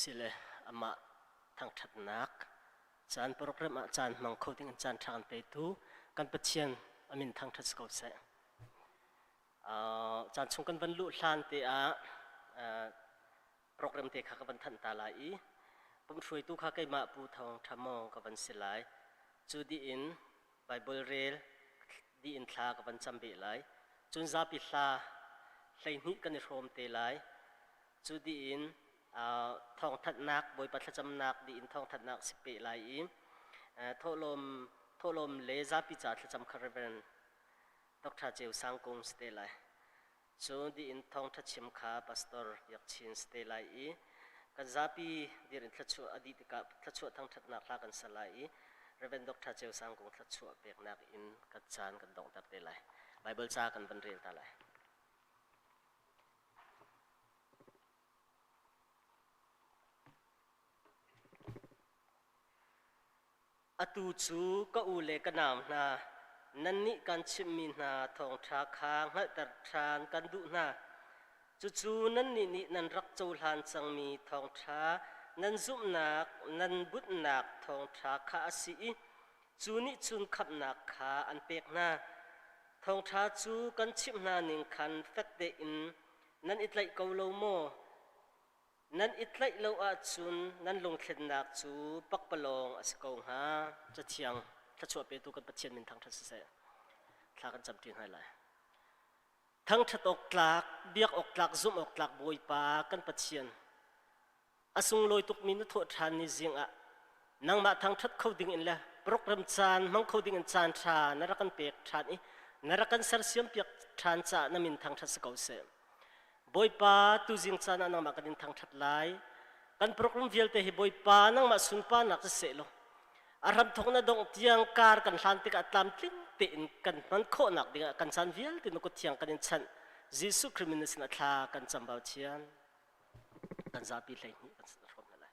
Sile amah thangṭhatnak, caan program ah caan hmang kho ding in caan ṭha kan petu kan Pathian a min thangṭhat si ko seh. Uh, caan chung kan van luh hlan te ah uh, program te kha ka van thanh ta lai i pumh hruaitu kha keimah Pu Thawng Ṭha Mawng ka van si lai. Cu dih in Baibal rel dih in thla ka van cam beh lai. Cun zapi hla hleihnih kan i hrawm te lai. Cu dih in thawngthanhnak Bawipa thlacamnak dih in thawngthanhnak si peh lai i thawhlawm thawhlawm le zapi caah thlacam kha Rev. Doctor Ceu Sang Kung si te lai. Cu dih in thawngṭha chim kha pastor Biak Chin si te lai i kan zapi dir in thluachuah a dih tikah thluachuah thangṭhatnak hla kan sa lai i Rev. Doctor Ceu Sang kong thluachuah peknak in ka caan kan donghter te lai. Baibal ca kan van rel ta lai. Atu cu ka u le ka nau hna, nannih kan chimhmi hna thawngṭha kha hngalhter ṭhan kan duh hna. Cucu nannih nih nan rak cohlan cangmi thawngṭha, nan zumhnak, nan bunhnak thawngṭha kha a si i cu nih cun khamhnak kha an pek hna. Thawngṭha cu kan chimh hna ning khan fek tein nan i tlaih ko lo maw? Nan i tlaih lo ahcun nan lunghlennak cu pakpalawng a si ko hnga. Cathiang, Thluachuah petu kan Pathian min thangṭhat siseh, thla kan camṭi hna lai. Thangṭhat awk tlak, biak awk tlak, zumh awk tlak Bawipa kan Pathian, a sunglawi tukmi na thawh ṭhan ni zing ah nangmah thangṭhat kho dingin le program caan hmang kho dingin caan ṭha na rak kan pek ṭhan i na rak kan sersiampiak ṭhan caah na min thangṭhat si ko seh. Bawipa, tuzing caan ah nangmah kan in thangṭhat lai. Kan program vialte hi Bawipa nangmah sunparnak si seh law a hram thawk na dongh tiang kar kan hlan tikah tlamtling tein kan hman khawhnak dingah kan caan vialte na kuthiang kan in chanh Jesuh Khrih min sinah thla kan cam bau thian kan zapi hleihnih kan sin hrawm lai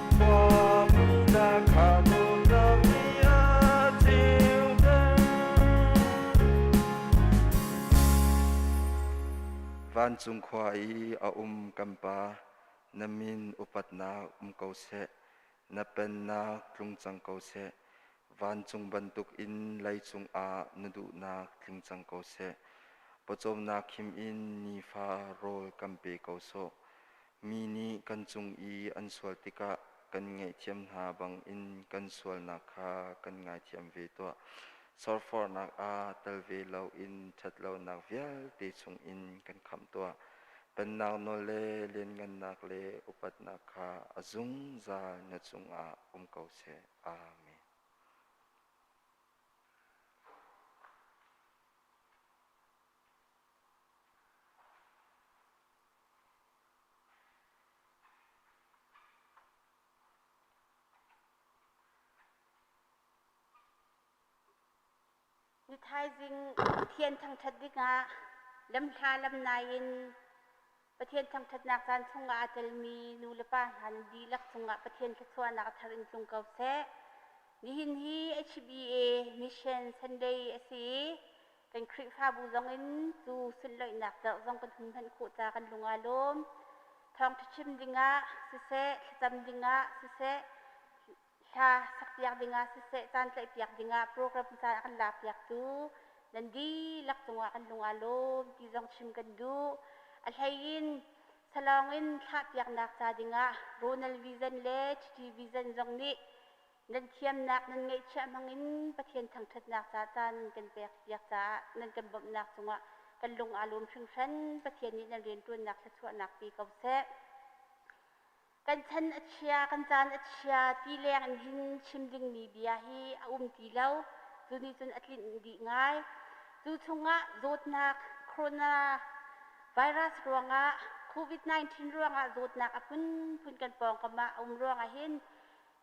Vancung khua i a um kan Pa, na min upatnak um ko seh, na pennak tlung cang ko seh, vancung bantuk in lei cungah na duhnak tling cang ko seh, pawcawmnak khim in nifa rawl kan pe ko sawh, Mi nih kan cung i an sual tikah kan ngaihthiam hna bangin kan sualnak kha kan ngaithiam ve tuah. Sorfornak ah tal ve loin ṭhatlonak vialte chungin kan khamh tuah. Pennak nawl le lianngannak le upatnak kha a zungzal na cungah um ko seh. Amen. Mithaizing thian thangṭhat dingah lamhla lam nai in. Pathian thangṭhatnak caan chungah aa telmi nulepa hlan dihlak cungah Pathian thluachuahnak a thar in tlung ko seh. Nihin hi HBA Mission Sunday a si i kan Khrihfabu zongin tuu sunhlawihnak zarh zong kan hun hman khawh ca kan lung aa lawm. Thawngṭha chim dingah siseh, thlacam dingah siseh, Hla sakpiak dingah siseh, caan tlaihpiak dingah program ca a kan laakpiaktu nan dihlak cungah kan lung aa lawm ti zong chim kan duh. A hleiin salawng in thlahpiaknak ca dingah Ronald Vision le Titi Vision zong nih nan thiamnak nan ngeihchiah hmangin Pathian thangṭhatnak ca caan kan pekpiak caah nan kan bawmhnak cungah kan lung aa lawm hringhran. Pathian nih nan rianṭuannak thluachuahnak pe ko seh. kan chan a chia, kan caan a chia ti leng in chim dingmi bia hi a um ti lo. Cu nih cun a tlinh dih ngai. Cu chungah zawtnak, corona virus ruangah, COVID-19 ruangah zawtnak a phunphun kan pawngkam ah a um ruangah hin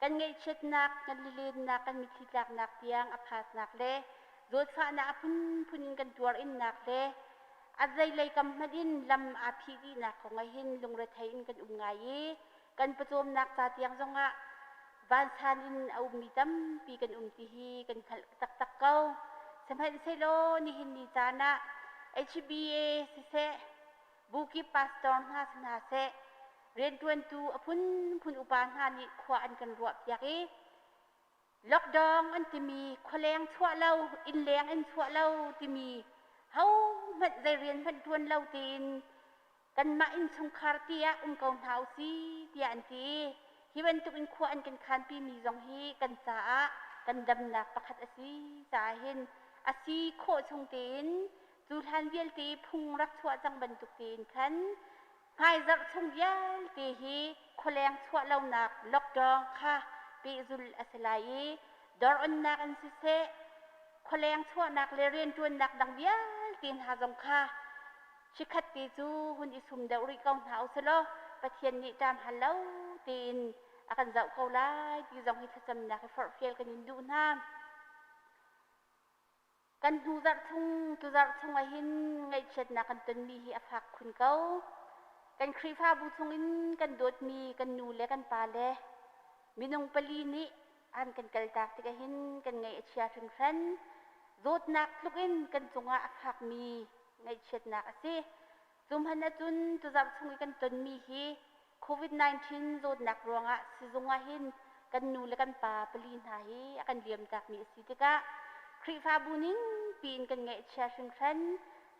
Kan ngaihchiatnak, kan lilennak, kan mitthli tlaknak tiang a phasnak le zawtfahnak a phunphun in kan tuarinnak le a zeilei kam hmanh in lam aa phih dihnak kong ahin lungrethei in kan um ngai i kan pawcawmnak ca tiang zongah vansan in a ummi tampi kan um ti hi kan hngalh taktak ko. Sihmanhsehlaw nihin ni caan ah HBA siseh, buki pastor hna si hna seh, rianṭuantu a phunphun upa hna nih khua an kan ruahpiak i lockdown an timi khualeng chuah lo, innleng in chuah lo timi hohmanh zei rian hmanh ṭuan lo tiin kanmah innchungkhar tiah um ko hna usi tiah an ti i hi bantukin khua an kan khanpimi zong hi kan caah kan damnak pakhat a si caah hin a si khawh chung tein Cu hlan vialte phung rak chuah cang bantuk tein khan hmaizarh chung vialte hi khualeng chuah lonak lockdown kha pehzul a si lai i doronnak in siseh, khualeng chuahnak le rianṭuannak dang vialte hna zong kha chikhat te cu hun i sum deuh rih ko hna u sih law Pathian nih ṭam hal lo tein a kan zoh ko lai ti zong hi thlacamnak i forhfial kan in duh hna. kan hnu zarh chung cu zarh chung ahhin ngaihchiatnak kan tonmi hi a fak khun ko. Kan Khrihfabu chungin kan dawtmi kan nu le kan pa le minung pali nih an kan kaltak tikah hin kan ngaih a chia hringhran. Zawtnak tluk in kan cungah a fakmi ngaihchiatnak a si. Cu hmanh ahcun tuzarh chung i kan tonmi hi Covid-19 zawtnak ruangah sizung ahhin kan nu le kan pa pali hna hi a kan liamtakmi a si tikah Khrihfabu ning piin kan ngaihchia hringhran.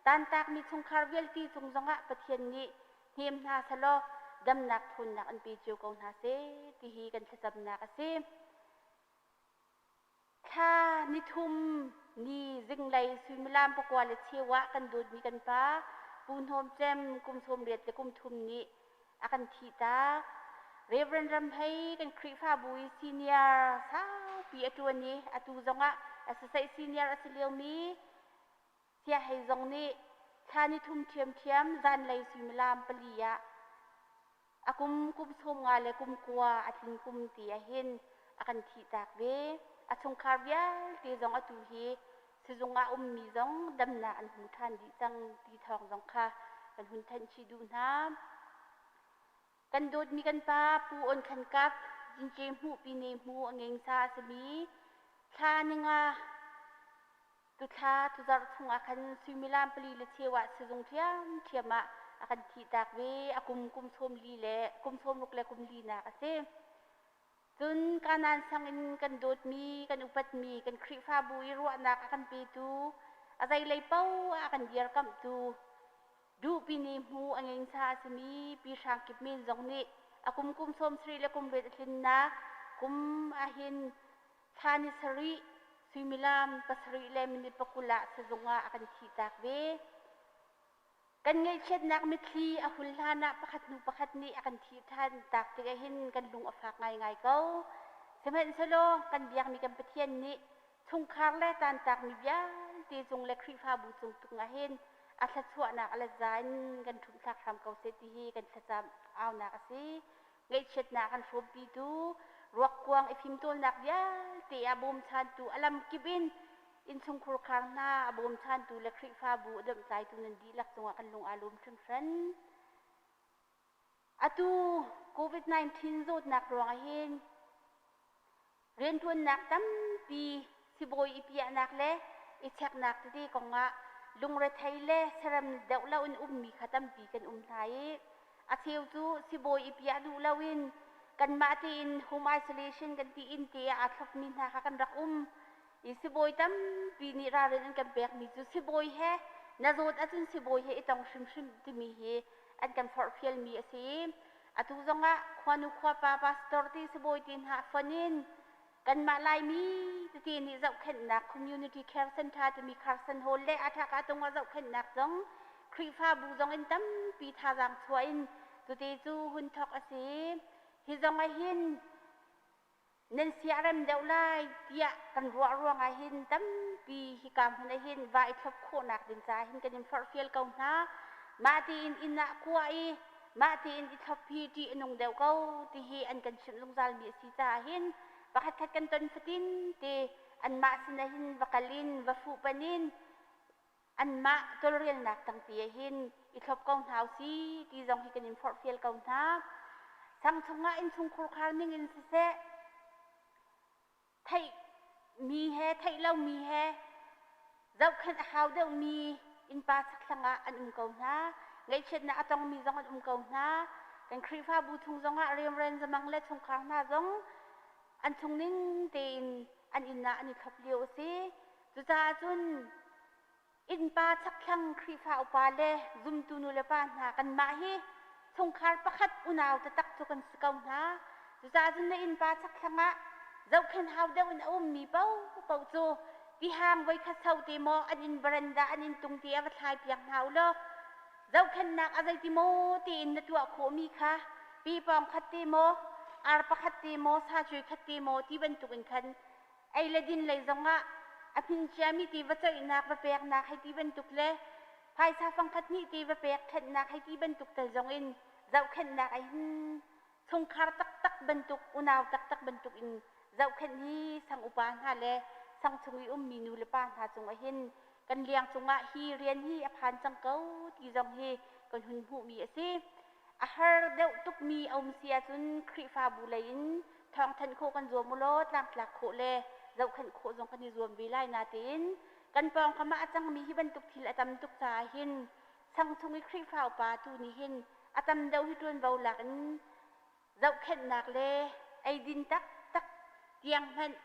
Tantakmi chungkhar vialte cung zongah Pathian nih hnem hna selaw damnak phunnak an pe cio ko hna seh ti hi kan thlacamnak a si. Thla ni thum ni zinglei suimilam pakua le cheu ah kan dawtmi kan pa Pu Hnawm Cem kum sawm riat le kum thum nih a kan thih ta. Reverend Ramhei kan Khrihfabu i senior saupi a ṭuan i atu zongah SSA senior a si liomi Sia hei zong nih thla nithum ṭhiamṭhiam zanlei suimilam pali ah a kum kum sawm nga le kum kua a tling kum ti ahin a kan thihtak ve. A chungkhar vialte zong atu hi sizung ah ummi zong damnak an hmu ṭhan dih cang ti thawng zong kha kan hun thanh chih duh hna. Kan dawtmi kan pa Pu On Khan Kap, Zinke Hmuh, Pine Hmu, a ngensa a simi thla ninga tuthla tuzarh chungah khan suimilam pali le cheu ah sizung ṭhiamṭhiam ah a kan thihtak ve. A kum kum sawm li le kum sawm ruk le kum linak a si. Cun Kanaan sangin kan dawtmi, kan upatmi, kan Khrihfabu i ruahnak a kan petu, a zeilei paoh ah a kan dirkamhtu, duhpini hmu a nginsa a simi Pi Hrang Kip Min zong nih a kum kum sawmsarih le kum riat a tlinnak kum ah hin thla ni sarih, suimilam pasarih le minit pakul ah sizung ah a kan thihtak ve. Kan ngaihchiatnak mitthli a hun hlan ah pakhat hnu pakhat nih a kan thih ṭhan. Tak tik ahhin kan lung a fak ngaingai ko. Sihmanhsehlaw kan biakmi kan Pathian nih chungkhar le tantakmi vialte cung le Khrihfabu cung tlung ahhin a thluachuahnak a let za in kan ṭhumhthlak hram ko seh ti hi kan thlacam aunak a si. Ngaihchiatnak an hrawmpitu, ruakkuang i fimtawlnak vialte a bawmchantu, a lamkip in innchungkhur khar hna a bawmchantu le Khrihfabu a domhtlaitu nan dihlak cungah kan lung aa lawm hringhran. Atu COVID-19 zawtnak ruang ahhin Rianṭuannak tampi sibawi i piahnak le i cheknak tete kongah lungrethei le serem deuh loin ummi kha tampi kan um hna i a cheu cu sibawi i piah duh loin kanmah tiin home isolation kan ti in te ah aa thlopmi hna kha kan rak um i sibawi tampi nih ralrin an kan pekmi cu sibawi he na zawt ahcun sibawi he i tong hrimhrim timi hi an kan forhfialmi a si i Atu zongah khuanu khuapa pastor ti sibawi te hna fonh in kanmah Laimi titi nih zohkhenhnak Community Care Center timi Carson Hall le Athaka-Tungah zohkhenhnak zong Khrihfabu zong in tampi thazaang chuah in tuti cu hun thawk a si. Hi zong ahhin nan sia a rem deuh lai tiah kan ruah ruangah hin tampi hika hmun ah hin va i thlop khawhnak ding caah hin kan in forhfial ko hna. Mah tiin inn ah kua i mah tiin i thlop hi ṭih a nung deuh ko tihi an kan chimh zungzalmi a si caah hin pakhatkhat kan ton fatin te anmah sinah hin va kal in va fuhpanh in Anmah tawlrelnak tangti ah hin i thlop ko hna u si ti zong hi kan in forhfial ko hna. Sang chungah innchungkhur khar ning in siseh, theih mi he theih lo mi he zohkhenh a hau deuh mi innpa sakthlang ah an um ko hna. Ngaihchiatnak a tong mi zong an um ko hna. Kan Khrihfabu chung zong ah rianren zamang le chungkhar hna zong an chung ning tein an inn ah an i thlop lio a si. Cucaah cun innpa chakthlang Khrihfa upa le zumtu nulepa hna kanmah hi chungkhar pakhat unau taktak cu kan si ko hna. Cucaah cun na innpa chakthlang ah zohkhenh hau deuh in a ummi paohpaoh cu tihang voikhat sau te maw an in baranda an inn tung te a va thlaipiak hna u law zohkhenhnak a zeiti maw tiin na tuah khawhmi kha pi pawng khat te maw ar pakhat te maw sa cui khat te maw ti bantukin khan ei le din lei zongah a hmin ciami tiva ceihnak va peknak hei ti bantuk le phaisa fangkhat hnih tiva pek khenhnak hei ti bantuk tal zongin zohkhenhnak ei hin chungkhar taktak bantuk unau taktak bantuk in zohkhenh hi sang upa hna le sang chung i ummi nu le pa hna cung ahin kan liang cungah hi rian hi a phan cang ko ti zong hi kan hun hmuhmi a si A har deuh tukmi a um si ahcun Khrihfabu lei in thawngthanh khawh kan zuam u law tlangtlak khawh le zohkhenh khawh zong kan i zuam ve lai natein kan pawngkam ah a cangmi hi bantuk thil a tam tuk caah hin sang chung i Khrihfa upa tu nih hin a tam deuh hi ṭuanvo lak in Zohkhenhnak le eidin taktak tiang hmanh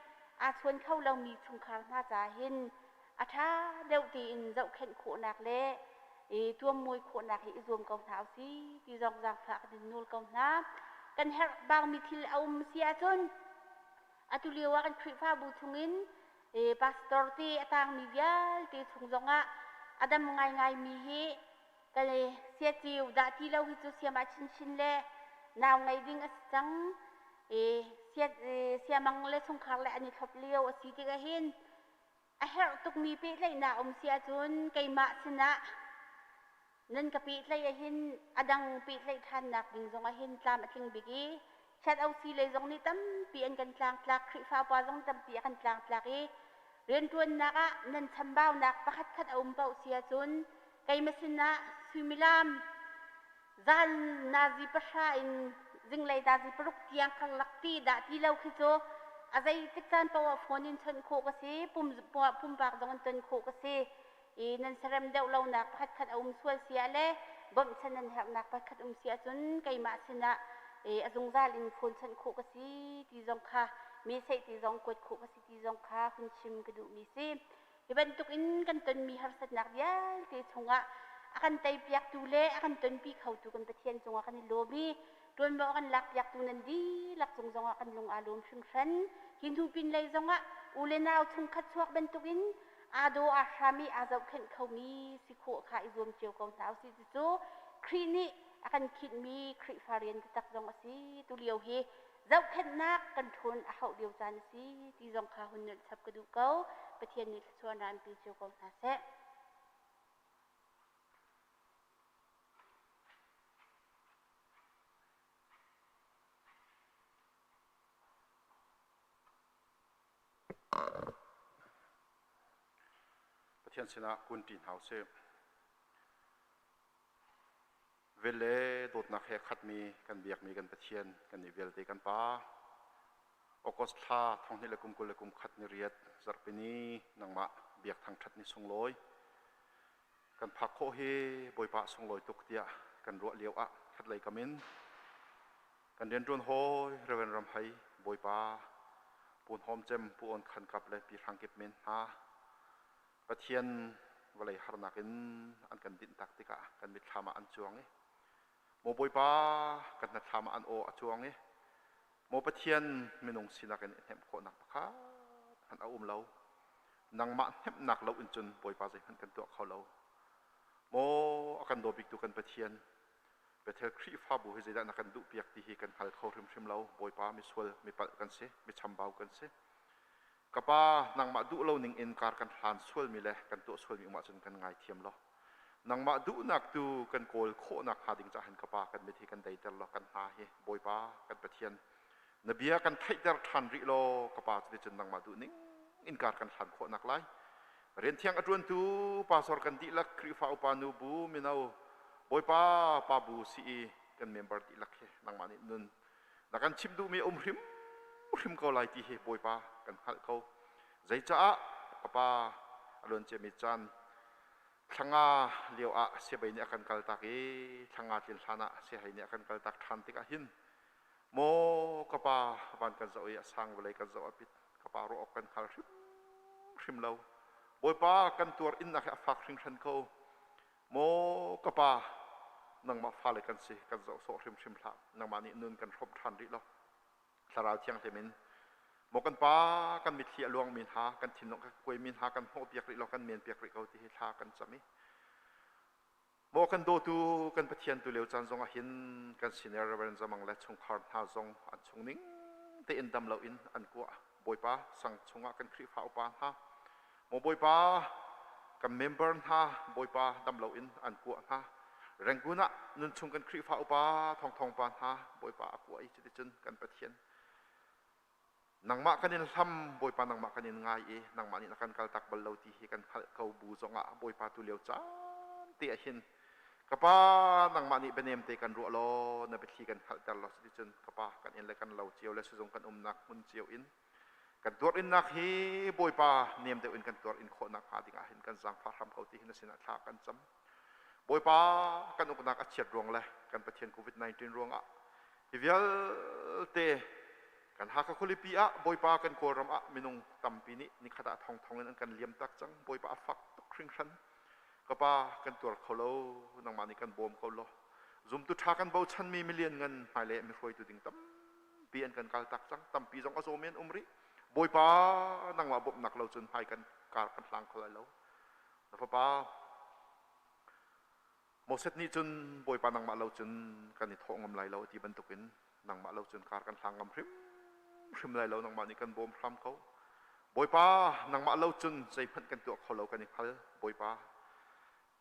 aa chuan kho lomi chungkhar hna ca hin a ṭha deuh tiin zohkhenh khawhnak le i tuammuai khawhnak hi i zuam ko hna u sih ti zong zaangfak in nawl ko hna. Kan herhbaumi thil a um si ahcun atu lio ah kan Khrihfabu chungin pastor te a tangmi vialte chung zongah a dam ngaingaimi hi Kale siaciu dah ti lo hi cu siama chinchin le nau ngei ding a si cang. E, sia, e, siamang le chungkhar le an i thlop lio a si tik ahhin a herh tukmi pehtlaihnak um si ahcun keimah sinah nan ka pehtlaih ahhin a dang pehtlaih ṭhannak ding zong ahhin tlam a tling bik i Sadosi lei zong nih tampi an kan tlangtlak, Khrihfa upa zong tampi a kan tlangtlak i rianṭuannak ah nan chambaunak pakhatkhat a um paoh si ahcun keima sinah suimilam zan nazi pahra in zinglei nazi paruk tiang karlak ti dah ti lo khi cu a zeitik caan paoh ah phone in chawnh khawh ka si, pumpak zong in chawnh khawh ka si. i nan sarem deuh lonak pakhatkhat a um sual siah le bawmhchanh nan herhnak pakhat um si ahcun keimah sinah i a zungzal in khunchanh khawh ka si ti zong kha mi seih ti zong kuat khawh ka si ti zong kha hun chim ka duhmi si hi bantuk in kan tonmi harsatnak vialte chungah a kan teipiaktu le a kan tonpi khotu kan Pathian cungah kan i lawm i tuanvo a kan lakpiaktu nan dihlak cung zongah kan lung aa lawm hringhran hi hnu pin lei zongah u le nau chungkhat chuak bantukin aa daw aa hram i aa zohkhenh khomi si khawh kha i zuam cio ko hna u sih. Cucu Khrih nih a kan khinhmi Khrihfa rian taktak zong a si. Tulio hi zohkhenhnak kan ṭhun a hauh lio caan a si ti zong kha hun nunh chap ka duh ko. Pathian nih thluachuah an raanpi cio ko hna seh. Pathian sinah kunṭi hna u sih. Vel le dawtnak he khatmi kan biakmi kan Pathian kan i vialte kan Pa. August thla thonghnih le kum kul le kum khat ni riat zarhpini nangmah biak thangṭhat ni sunglawi. Kan phak khawh hi Bawipa sunglawi tuk tiah kan ruah lio ah khatlei kam in Kan rianṭuan hawi Rev. Ram Hai, Bawipa, Pu Hnawm Cem, Pu On Khan Kap le Pi Hrang Kip men hna, Pathian vawlei harnak in an kan dinhtak tikah kan mitthlam ah an cuang i Maw Bawipa, kan hnatthlam ah an aw a cuang i Maw Pathian, minung sinak in hnemh khawhnak pakhat hmanh a um lo. Nangmah hnemhnak lo in cun Bawipa zeihmanh kan tuah kho lo. Maw a kan daw biktu kan Pathian, Bethel Khrihfabu hi zeidah na kan duhpiak ti hi kan hngal kho hrimhrim lo. Bawipa, misual, mipalh kan si, michambau kan si. Ka Pa, nangmah duh lo ning in kar kan hlan sualmi le kan tuah sualmi um ahcun kan ngaithiam law, nangmah duhnak tu kan kawl khawh nakhnga ding caah hin ka Pa, kan mit hi kan deiter law kan hna hi, Bawipa, kan Pathian, Na bia kan theihter ṭhan rih law ka pa cu ticun nangmah duhning in kar kan hlan khawhnak lai. Rian thiang a ṭuantu pastor kan dihlak Khrihfa upa nu bu mino Bawipa pa bu si i kan member dihlak hi nangmah nih nun na kan chimh duhmi a um hrim hrim ko lai ti hi Bawipa kan hngalh ko. Zeicaah ka pa a luan ciami caan thlanga lio ah siabei nih a kan kaltak i thlanga tlin hlan ah siahei nih a kan kaltak ṭhan tikah hin maw ka pa van kan zoh i a sang vawlei kan zoh a pit ka pa ruah awk kan hngal hrimhrim lo bawipa kan tuar innak hi a fak hringhran ko maw ka pa nangmah fale kan si kan zoh sawh hrimhrim hlah nangmah nih nun kan hrawmh ṭhan rih lo thlarau thiang temin maw kan pa kan mitthli a luangmi hna kan thinlung a kuaimi hna kan hmuh piak rih lo kan men piak rih ko ti hi thla kan cam i maw kan dawtu kan pathian tu leo caan zongah hin kan senior reverend zamang le chungkhar hna zong an chung ning tein dam loin an kua bawipa sang chungah kan khrihfa upa hna maw bawipa kan member hna bawipa dam loin an kua hna renggun ah nun chung kan khrihfa upa thongthong pa hna bawipa a kua i cuticun kan pathian nangmah kan in hlam bawipa nangmah kan in ngai i nangmah nih na kan kaltak bal lo ti hi kan hngalh ko bu zongah bawipa tu lio caan te ah hin ka pa nangmah nih bianem te kan ruah law na biathli kan hngalhter law cuti cun ka pa kan in le kan lo cio le sizung kan umnak hmun cio in kan tuar innak hi bawipa nem deuh in kan tuar in khawhnak hnga dingah hin kan zaangfah hram ko ti hin a sinah thla kan cam Bawipa kan uknak a chiat ruang le kan Pathian COVID-19 ruangah hi vialte kan Hakha khualipi ah Bawipa kan Kawlram ah minung tampi nih nikhat ah thongthong in an kan liamtak cang. Bawipa a fak tuk hringhran. Ka pa kan tuar kho lo, nangmah nih kan bawm ko law zumtu ṭha kan bochanmi milian ngan hmailei mihruaitu ding tampi an kan kaltak cang. Tampi zong a zawm in um rih. Bawipa nangmah bawmhnak lo cun hmai kan kar kan hlang kho lai lo. na fapa Moses nih cun Bawipa nangmah lo cun kan i thawh ngam lai lo ti bantukin nangmah lo cun kar kan hlang ngam hrimhrim lai lo nangmah nih kan bawm hram ko Bawipa nangmah lo cun zeihmanh kan tuah kho lo kan i hngal Bawipa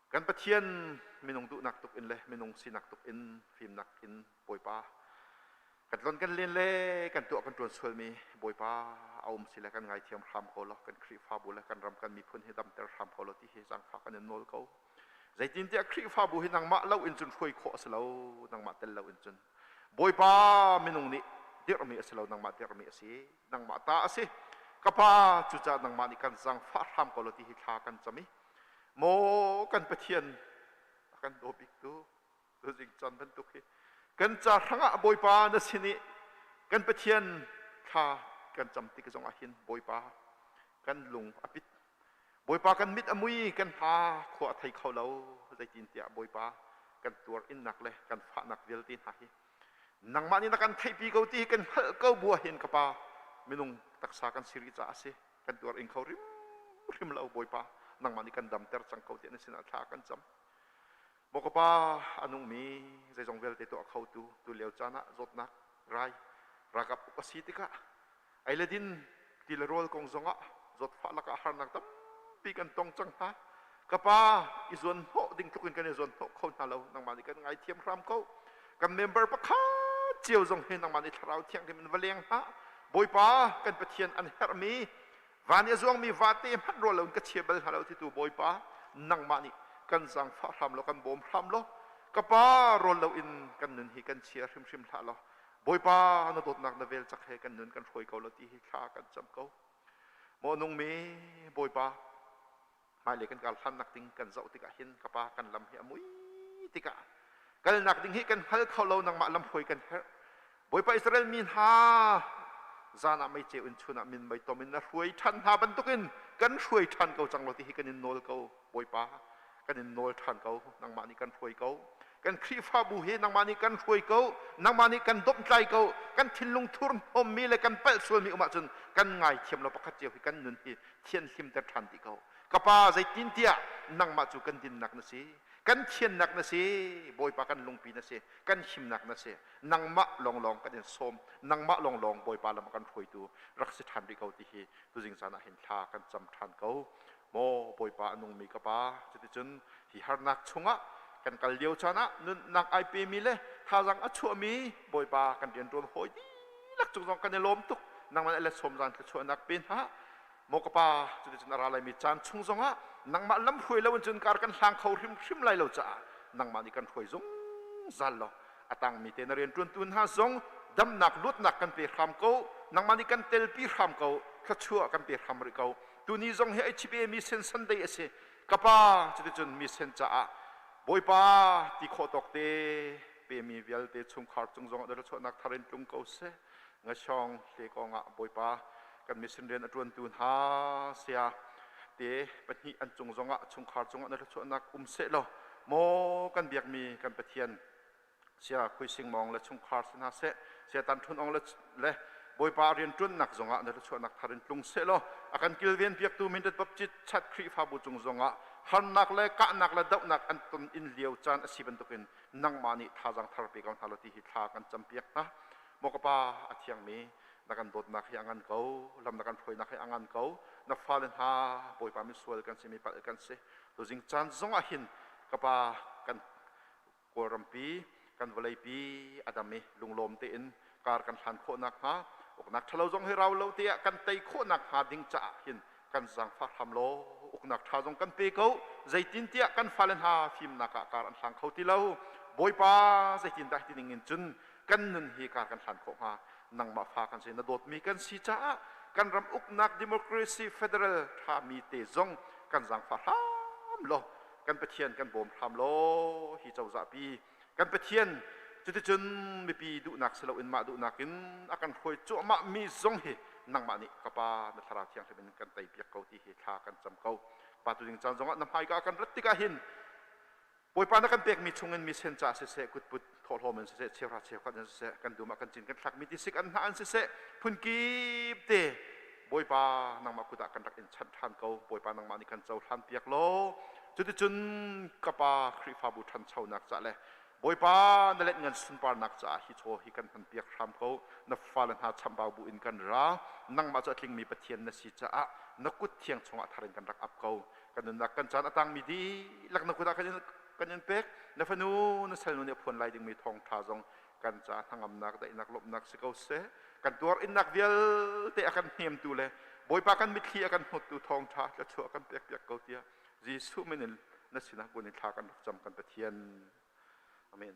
kan Pathian minung duhnak tuk in le minung sinak tuk in fimnak in Bawipa kan tlon kan len le kan tuah kan tuan sualmi bawipa a um si le kan ngaithiam hram ko lo kan khrihfabu le kan ram kan miphun hi damter hram ko lo ti hi zangfa kan in nawl ko zeitintiah khrihfabu hi nangmah lo in cun hruai khawh a si lo nangmah tel lo in cun bawipa minung nih dirhmi a si lo nangmah dirhmi a si nangmah ta a si ka pa cucaah nangmah nih kan zangfah hram ko lo ti hi thla kan cam i maw kan pathian a kan daw biktu Zing Con bantuk hi kan ca hrangah Bawipa na sin i kan Pathian thla kan cam tik zong ah hin Bawipa kan lung a pit Bawipa kan mit a mui kan hna khua a thei kho lo zeitintiah Bawipa kan tuar innak le kan fahnak vialte hna hi nangmah nih na kan theihpi ko ti kan hngalh ko bua hin ka pa minung taksa kan si rih caah si kan tuar ing kho rim rim lo Bawipa nangmah nih kan damter cang ko ti na sinah thla kan cam Maw ka pa, a nungmi zeizong vialte tuah khotu tulio caan ah zawtnak rai ralkap uk a si tikah ei le din ti le rawl kong zongah zawtfah lakah harnak tampi kan tong cang hna. Ka pa, i zuanhnawh ding tlukin kan i zuanhnawh kho hna lo. Nangmah nih kan ngaithiam hram ko. Kan member pakhat cio zong hi nangmah nih thlarau thianghlim in va leng hna. Bawipa, kan Pathian an herhmi Van i a zuangmi vate hmanh rual loin ka chia bal hna lo titu Bawipa, nangmah nih kan zaangfah hram law kan bawm hram law ka Pa rawl loin kan nun hi kan chia hrimhrim hlah law Bawipa na dawtnak na vel cak he kan nun kan hruai ko law ti hi thla kan cam ko. Maw nungmi Bawipa, hmailei kan kar hlannak ding kan zoh tikah hin ka pa kan lam hi a mui tikah kalnak ding hi kan hngal kho lo nangmah lamhruai kan herh bawipa israel mi hna zan ah meice in chun ah min mei tom in na hruai ṭhan hna bantukin kan hruai ṭhan ko cang lo ti hi kan in nawl ko bawipa kan in nawl ṭhan ko nangmah nih kan hruai ko kan khrihfabu hi nangmah nih kan hruai ko nangmah nih kan domtlai ko kan thinlung thurhnawmmi le kan palh sualmi um ahcun kan ngaithiam lo pakhat cio hi kan nun hi thianhlimter ṭhan dih ko. Ka pa, zeitintiah nangmah cu kan dinnak na si, kan thiannak na si, Bawipa kan lungpi na si, kan himnak na si, nangmah lawnglawng kan in sawm, nangmah lawnglawng Bawipa lam a kan hruaitu rak si ṭhan rih ko ti hi tuzing zan ah hin thla kan cam ṭhan ko. Maw Bawipa a nungmi ka pa, cuticun hi harnak chungah kan kal lio caan ah nunnak ai pemi le thazang a chuahmi bawipa kan rian ṭuan hawi dihlak cu zong kan i lawm tuk nangman ele sawm zan thluachuahnak pe hna maw ka pa cuticun a ra laimi caan chung zongah nangmah lamhruai lo in cun kar kan hlang kho hrimhrim lai lo caah nangmah nih kan hruai zungzal law a tangmi te na rian ṭuantu hna zong damnak luatnak kan pe hram ko nangmah nih kan telpi hram ko thluachuah kan pe hram rih ko tuni zong hi ai chipemi sen sunday a si Ka pa, cuticun misen caah Bawipa ti khawh tawk te pemi vialte chungkhar cung zongah dotherchuahnak thar in tlung ko seh. Ngashawng hle kongah Bawipa kan mission rian a ṭuantu hna saya te pahnih an cung zongah chungkhar cungah na thluachuahnak um seh law maw kan biakmi kan Pathian, sia khuising mawng le chungkhar si hna seh setan ṭhunong le, le bawipa rianṭuannak zongah na thluachuahnak thar in tlung seh law a kan kilven piaktu mindat baptit chat khrihfabu cung zongah harnak le kahnak le dohnak an ton in lio caan a si bantukin nangmah nih thazang thar pe ko hna law ti hi thla kan campiak hna maw ka pa a thiangmi na kan dawtnak hi a ngan ko lam na kan hruainak hi a ngan ko na fale hna bawipa min sual kan si mi palh kan si tuzing caan zongah hin ka pa kan Kawlrampi kan vawleipi a dam i lunglawm tein kar kan hlan khawh nakhnga uknak ṭhalo zong hi rau lo teah kan tei khawh nakhnga ding caah hin kan zangfah hram law uknak ṭha zong kan pe ko, zeitintiah kan fale hna fimnak ah kar an hlang kho ti lo. Bawipa zeitindah hiti ning in cun kan nun hi kar kan hlan khawh hnga? Nangmah fa kan si, na dawtmi kan si caah kan ram uknak democracy federal ṭhami te zong kan zangfah hram law kan Pathian kan bawm hram law hi cozah pi kan Pathian cuticun mipi duhnak si loin mah duhnak in a kan hruai cuahmah mi zong hi nangmah nih ka Pa na thlarau thianghlim in kan tei piak ko ti hi thla kan cam ko pa tu ding caan zongah na hmaika kan rat tikah hin Bawipa na kan pekmi chungin mi sen caah siseh kutput thawhlawm in siseh cheuhra cheukhat in siseh kan dum ah kan cin kan thlakmi tisik an hna an siseh phunkip te bawipa nangmah kut ah kan rak in chanh ṭhan ko bawipa nangmah nih kan cohlan piak law cuticun ka pa khrihfabu ṭhanchonak ca le bawipa na let ngan sunparnak caah hi chaw hi kan hman piak hram ko na fale hna chambau bu in kan ra nangmah cu a tlingmi pathian na si caah na kut thiang chungah thar in kan rak ap ko kan nunnak kan caan a tangmi dihlak na kut ah kan in pek na fanu na salnu nih a phuan lai dingmi thawngṭha zong kan ca hnangamnak daihnak lawmhnak si ko seh kan tuar innak vialte a kan hnemtu le bawipa kan mitthli a kan hnuttu thawngṭha thluachuah kan pek piak ko tiah jesuh min in na sinah bun in thla kan rak cam kan pathian amen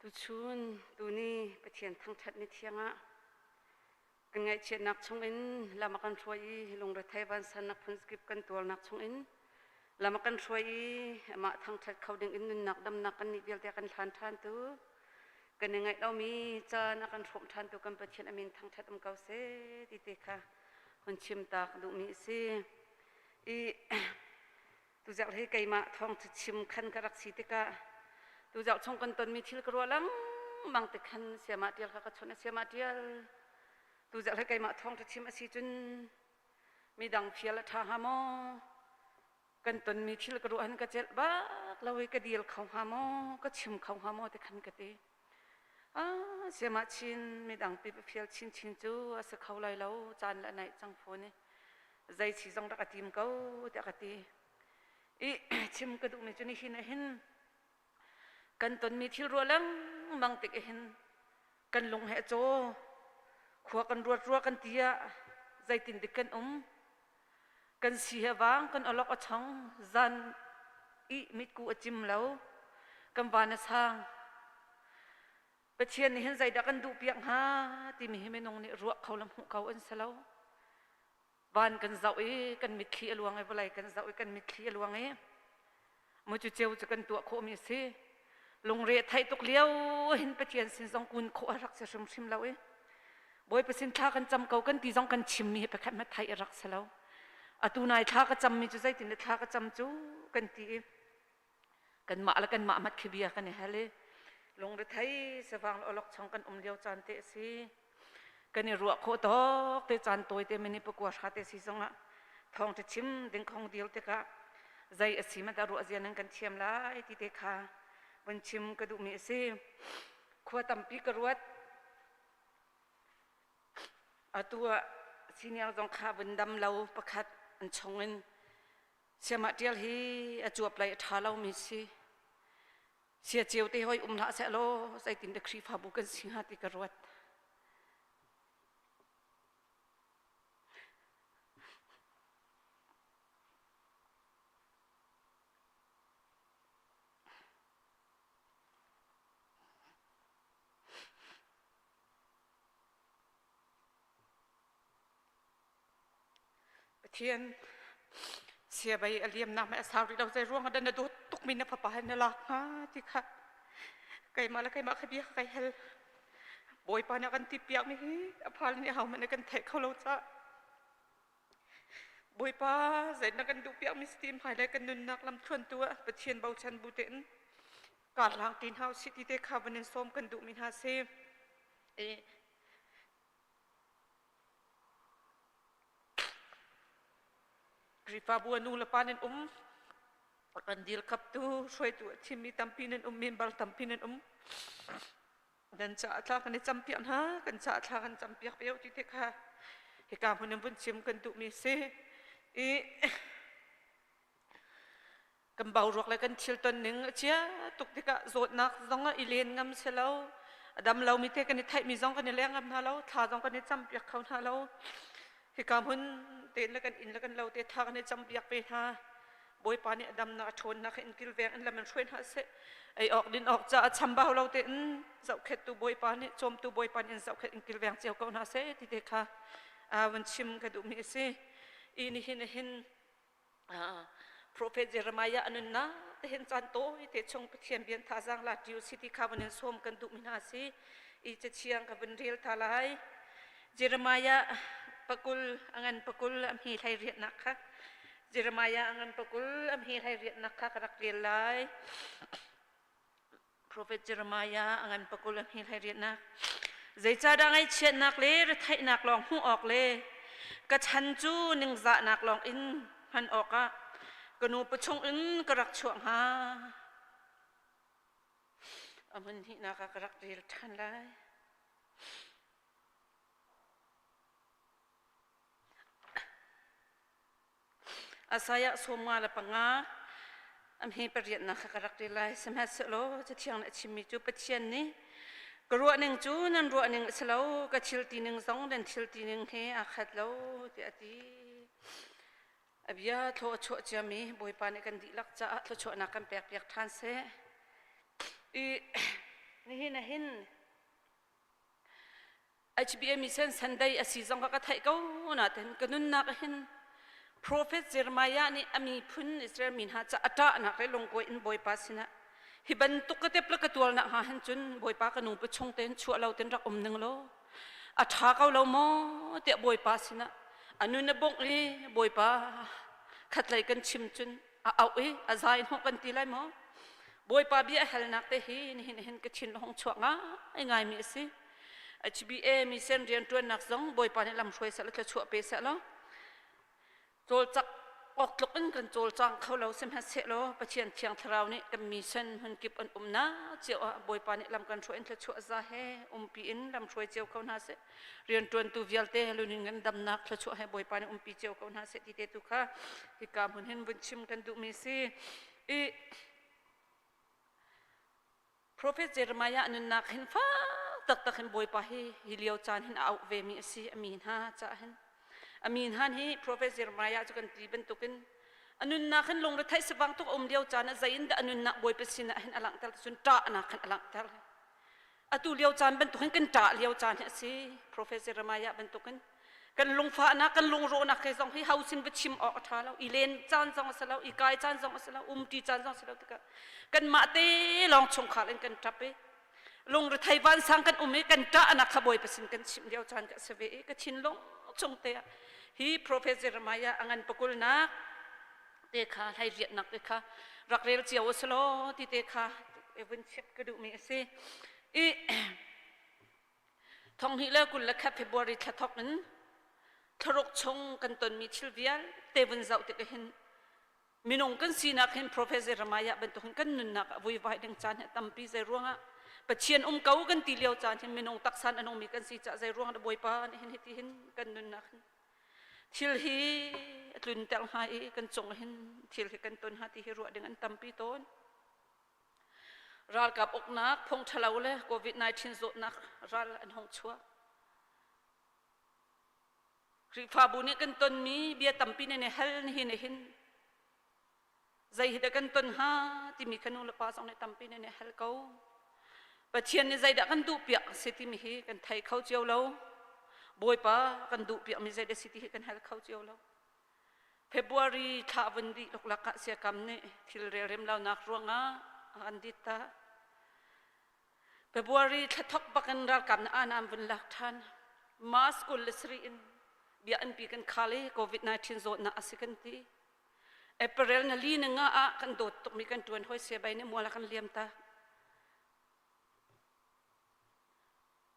Tuchun, tuni Pathian thangṭhat ni thiang ah kan ngaihchiatnak chungin lam a kan hruai i lungrethei vansannak phunkip kan tuarnak chungin lam a kan hruai i amah thangṭhat kho dingin nunnak damnak kan nih vialte a kan hlan ṭhantu kan i ngaih lomi caan a kan hrawm ṭhantu kan Pathian amin thangṭhat um ko seh ti te kha hun chim tak duhmi a si. I Tuzauk hi keimah thawng cu chim khan ka rak si tikah tuzauk chung kan tonmi thil ka ruah lengmang tik khan siama tial kha ka chawnh a siama tial tuzauk hi keimah thawng cu chim a si cun midang fial a ṭha hnga maw kan tonmi thil ka ruah han ka celh bak lo i ka dil kho hnga maw ka chim kho hnga maw ti khan ka ti. Ah, siamah chin midang pip fial chin chin cu a si kho lai lo caan le naih cang phone i zei chi zong rak a tim ko tiah ka ti i chim ka duhmi cu nihin a hin kan tonmi thil rual lengmang tik a hin kan lung he a caw khua kan ruat rua kan ti ah zeitin dik kan um Kan si he vang kan olok a chong zan i mitku a cim lo kan van a sang Pathian nih hin zeidah kan duh piak hnga timi hi minung nih ruah kho le hmuh kho an si lo van kan zoh i kan mitthli a luang i vawlei kan zoh i kan mitthli a luang i Mu cu ceu cu kan tuah khawhmi a si. Lungre a theih tuk lio hin Pathian sin zong kun khawh a rak si hrimhrim lo i Bawipa sin thla kan cam ko kan ti zong kan chimmi hi pakhat hmanh theih a rak si lo. Atu nai thla ka cammi cu zeitin le thla ka cam cu kan ti i kanmah le kanmah mat khi bia kan i hal i lungrethei sivang le awlokchong kan um lio caan te a si. kan i ruah khawh tok te caan tawi te mini pakua hra te si zong ah thawng te chim ding khong dil tikah zai a si mata ruah zia nan kan thiam lai ti te kha van chim ka duhmi a si khua tampi ka ruat atu ah senior zong kha vun dam lo pakhat an chung in siama tial hi a cuap lai a tha lo mi si sia ceu te hoi um hlah seh law zeitin de khrihfabu kan si hnga ti ka ruat Pathian siabai a liamnak ma a sau rih lo zei ruang ah dah na dawt tukmi na fapa hi na lak hnga ti kha keimah le keimah kha bia kha kai hel. Bawipa nih a kan ti piakmi hi a phal nih hohmanh na kan theih kho lo cah. Bawipa zei na kan duh piakmi stim hai le kan nunnak lamthluan tu ah Pathian bochan bu te in kaa hlang ti hna usih ti te kha van in sawm kan duhmi hna si. I Khrihfabu ah nu le pa nan um. Kan dil khaptu hruaitu a thimi tampi nan um, member tampi nan um. Dan ca a tla kan i campiak hna, kan ca a tla kan campiak pe ti te kha. Hi ka hmun in vun chim kan duhmi si. I kan bauruak le kan thil ton ning a chia tuk tikah zawtnak zong ah i len ngam si lo a dam lomi te kan i theihmi zong kan i leng ngam hna lo thla zong kan i campiak kho hna lo hika hmun tein le kan inn le kan lo te tha kan i campiak ve hna bawipa nih a damnak a ṭhawnnak in kilveng in lam in hruai hna seh ei awk din awk ca a chambau lo te in zohkhettu bawipa nih cawmtu bawipa nih in zohkhet in kilveng cio ko hna seh ti te kha a van chim ka duhmi a si i nihin a hin Prophet Jeremiah anun na te hen chan to te chung pathian bian tha zang la tiu city kha banin som kan du mi hna si i che chiang ka ban rel tha lai Jeremiah pakul angan pakul amhi hlai riat nak kha Jeremiah angan pakul amhi hlai riat nak kha ka rak rel lai Profet Jeremiah a ngan pakul a hngilhlai riatnak zeicahdah ngaihchiatnak le retheihnak lawng hmuh awk le ka chan cu ningzahnak lawng in hman awkah ka nu pa chungin ka rak chuah hnga a hmun hihnak ah ka rak rel ṭhan lai Isaiah sawmnga le panga amhe pariatnak kha ka rak rel lai sihmanhsehlaw cathiang nih a chimmi cu Pathian nih ka ruahning cu nan ruahning a si lo ka thil tining zong nan thil tining he aa khat lo tiah a ti a bia thlo a chuah ciami bawipa nih kan dihlak caah thluachuahnak kan pekpiak ṭhan seh i nihin a hin HBA mission Sunday asi zong ka ka theih ko na ten ka nunnak hin Prophet Jeremiah nih a miphun Israel mi hna ca ata nak le lungko in Bawipa sinah hi bantuk ka tepla ka tual nak ha han cun Bawipa ka nu pa chung ten chua lo ten rak um ning lo atha ko lo mo te Bawipa sinah anu na bongh li Bawipa khatlei kan chim cun a au i a zai hnawh kan ti lai maw bawipa bia a helnak te hi nihin hin ka thin hong chuah ngai ngai mi a si HBA mi sen rian ṭuannak zong bawipa nih lam hruai sal thla chuah pe seh law cawlcak awk tluk in kan cawlcang kho lo sehmanhseh law Pathian thiang thlarau nih kan mi sen hun kip an um na cio ah bawipa nih lam kan hruai in thla chuah za he umpi in lam hruai cio ko hna seh riantuantu vialte lunin ngandamnak thluachuah he bawipa nih umpi cio ko hna seh ti te tu kha hika hmun hin vun chim kan duhmi si i prophet jeremiah nunnak hin fa taktak hin bawipa hi hi lio caan hin a auh ve mi a si a mi hna caah hin a mi hna hi prophet jeremiah cu kan ti bantukin a nunnak hin lungrethei sivang tuk a um lio caan ah zeiin dah a nunnak bawipa sinah hin a langhter cun ṭahnak hin a langhter Atu lio caan bantuk hin kan ṭah lio caan hi a si, Professor Remaiah bantuk in. Kan lungfahnak, kan lungrawhnak he zong hi hausin va chim awk a ṭha lo. I len caan zong a si lo, i kai caan zong a si lo, umṭi caan zong a si lo tikah kanmah te lawng chungkhar in kan ṭap i lungrethei vansang kan um i kan ṭahnak kha Bawipa sin kan chimh lio caan ka si ve i ka thinlung chung te ah hi Professor Remaiah a ngan pakulnak te kha hleiriatnak te kha rak rel cio a si law ti te kha i vun check ka duhmi a si i thonghni le kul le khat February thla thok in thloruk chung kan tonmi thil vial te vun zoh tik hin minung kan sinak hin professor Ramaya bantukin kan nunnak a vui vai ding caan hi tampi zei ruangah Pathian um ko kan ti lio caan hin minung taksan anungmi kan si ca zei ruang da bawipa ni hin hiti hin kan nunnak hin Thil hi a tlunter hnga i kan cung hin thil hi kan ton hnga ti hi ruah ding an tampi tawn. Ralkap uknak phung ṭhalo le COVID-19 zawtnak ral an hong chuak. Khrihfabu nih kan tonmi bia tampi ne ne hal nihin nihin Zei hi dah kan ton ha timi kan nulepa zong nih tampi nih a hal ko. Pathian nih zeidah kan duh piak a si timi hi kan thei kho cio lo. Bawipa kan duh piakmi zei dah si ti hi kan hal kho cio lo. February thla vun dih luklak ah siakam nih thil relrem lonak ruangah a an dit ta. February thla thok bakin ralkap na anam vun lak ṭhan. Mask kul le sari in bia anpi kan khal i COVID-19 zawtnak a si kan ti. April nali na nga ah kan dawt tukmi kan tuan hoi sia bai nih muala kan liam ta.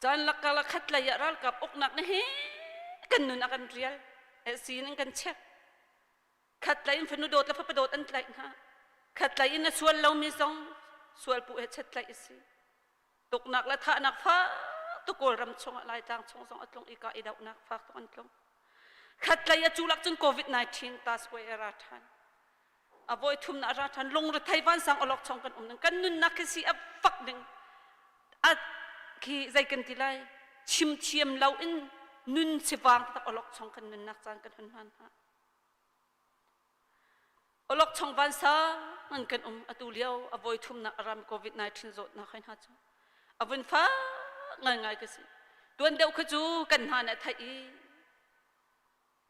Chan lakka la khat lei ah ralkap uknak ni hi kan nun a kan rial. Esi nan kan check. Khat lei in fanu dawt la fapa dawt an tlaih hna. Khat lei in na sual lomi zong sual pu he chet tlaih isi. tuknak le thahnak fak tuk Kawlram chung ah Laitlang chung zong a tlung i kah i dohnak fak tuk an tlung khatlei a culak cun covid-19 task way a ra ṭhan a voi thumna a ra ṭhan lungrethei vansang olok chong kan um ning kan nunnak khi si a fak ning a khi zei kan ti lai chimthiam lo in nun sivang tak olok chong kan nunnak caan kan hun hman hna Olokchong vansang an kan um atu lio a voi thumnak a ram COVID-19 zawtnak hai hna cu a vun fa ngai ngai ka si tuan deuh kha cu kan hna nih a theih i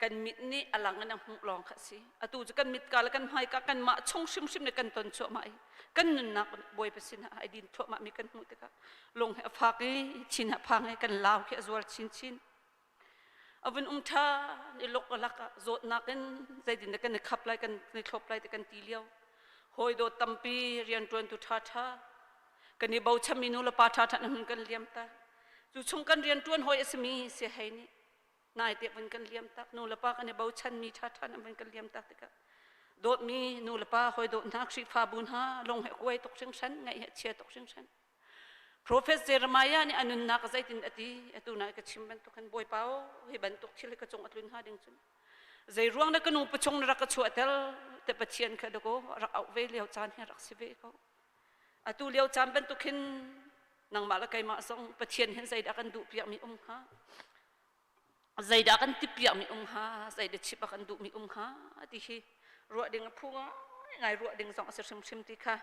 kan mit nih a lang in a hmuh lawng kha si atu cu kan mit ka le kan hmai ka kan mah chung hrimhrim le kan ton chuahmah i kan nunnak bawi pasin ai din thuahmah mi kan hmuh tikah lung he a fak i chin a phang i kan lau khi a zual chinchin a vun um ṭhan i luk a lak ah zawtnak in zeitin dah kan i khap lai kan i thlop lai ti kan ti lio hawi dawt tampi rianṭuan tu ṭha ṭha kan i bochan mi nu le pa ṭha ṭha na hun kan liam ta cu chung kan rianṭuan hawi a simi si hei nih nai te vun kan liam tak nu le pa kan i bochan mi ṭha ṭha na vun kan liam tak tikah dawtmi nu le pa hawi dawt hna khrihfa bu hna lung he kuai tuk hringhran ngaih he chia tuk hringhran Profet Jeremiah nih a nunnak zeitin a ti atu na ka chim bantuk khan bawipa o hi bantuk thil ka cung a tlun ha ding cun zei ruang na ka nu pachung na rak ka chuahter te pathian kha dako rak auh ve lio caan hi rak si ve ko atu lio caan bantuk hin nangmah la keimah zong pathian hin zeidah kan duh piakmi um kha zeidah kan ti piakmi um ha zeidah chip kan duhmi um ha ti hi ruah ding a phu ngai ruah ding zong a si hrimhrim ti kha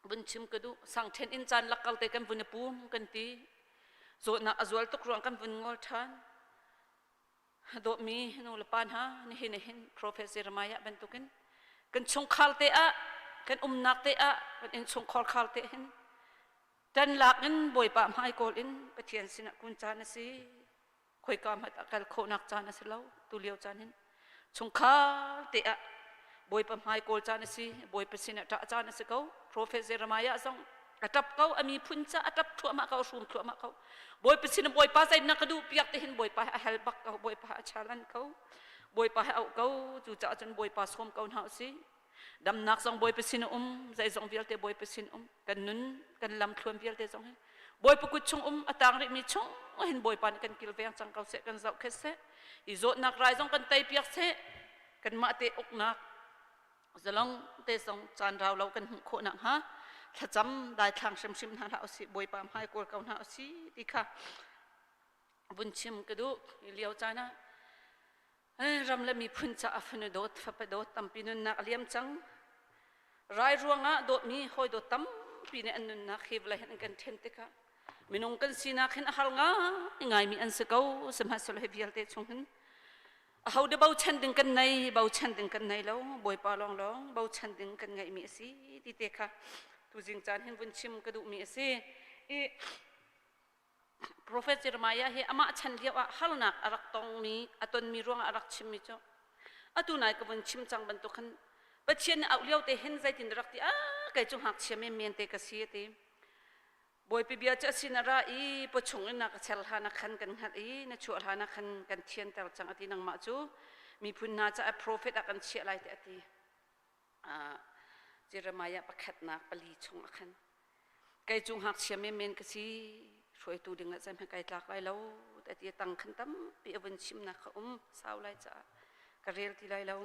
vun chim ka duh sang ṭhen in caan lak kal te kan vun i pum kan ti zawtnak a zual tuk ruang kan vun ngol ṭhan dawhmi nu le pa hna nihin nihin professor Ramaya bantukin kan chungkhar te ah kan umnak te ah kan inn chungkhar khar te hin tan lak in bawipa hmai kawl in pathian sinah kun caan a si khoika hmat a kal khawhnak caan a si lo tulio caan hin chungkhar te ah bawipa hmai kawl caan a si bawipa sin ah ṭah caan a si ko profet Jeremiah zong a ṭap ko a miphun ca a ṭap thluahmah ko hrum thluahmah ko bawipa sin bawipa sai na ka duh piak te hin bawipa a hel bak ko bawipa a chalan ko bawipa a auh ko cucaah cun bawipa sawm ko hna u si Damnak zong Bawipa sin a um, zeizong vialte Bawipa sin um. Kan nun, kan lamthluan vialte zong hi Bawipa kut chung um a tang rihmi chung hin Bawipa nih kan kilveng cang ko seh, kan zoh khet seh. I zawtnak rai zong kan teipiak seh, kanmah te uknak zalong te zong caan rau lo kan hmuh khawh nak hnga thlacam daithlang hrimhrim hna hlah usih Bawipa hmai kawl ko hna usih ti kha vun chim ka duh i lio caan ah ram le miphun caah fanu dawt fapa dawt tampi nunnak a liam cang rai ruangah dawtmi hawi dawt tampi nih an nunnak hi vawlei an kan ṭhen tikah minung kan sinak hin a har ngai ngaimi an si ko sihmahsehlaw hi vialte chung hin a ho de bochan ding kan nei bochan ding kan nei lo bawipa lawng lawng bochan ding kan ngaihmi a si ti te kha tuzing caan hin vun chim ka duhmi a si i Profet Jeremiah hi amah chan lioah harnak a rak tongmi, a tonmi ruangah a rak chimmi cu, atu nai ka vun chim cang bantuk khan Pathian nih auh liote hin zeitin rak ti, a kei cu ngakchia menmen te ka si a ti. Bawipi bia cu a sin a ra i pawchung in na ka ser hlan ah khan kan hngalh i na chuah hlan ah khan kan thianter cang a ti. Nangmah cu miphun hna caah profet ah kan chiah lai tiah a ti. Jeremiah pakhatnak pali chung a khan kei cu ngakchia menmen ka si hruaitu dingah cem hi kai tlak lai lo ti tang khan tampi a vun chimnak kha um sau lai caah ka rel ti lai lo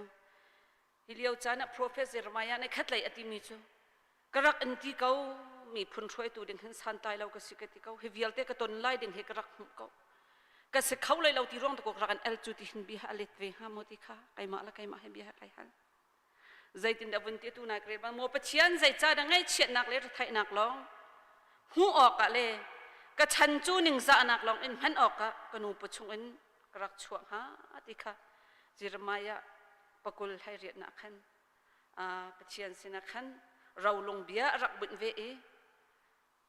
hi lio caan ah profet Jeremiah nih khatlei a timi cu ka rak in ti ko mi phun hruaitu ding hin santai lo ka si ka ti ko hi vialte ka ton lai ding hi ka rak hmuh ko ka se kho lai lo ti rong ta ko rak an el cu ti hin bia a let ve hnga maw ti kha keimah la keimah he bia kai hal Zeitindah vun ti tu nai ka bang maw Pathian zeica dah ngaihchiatnak le rithaihnak lawng hmuh awkah le ka chan cu ningzahnak lawng in hman awkah ka nu pa chung in ka rak chuah hnga ti kha Jeremiah pakul hlairiatnak khan Pathian sinah khan rolung bia a rak bunh ve i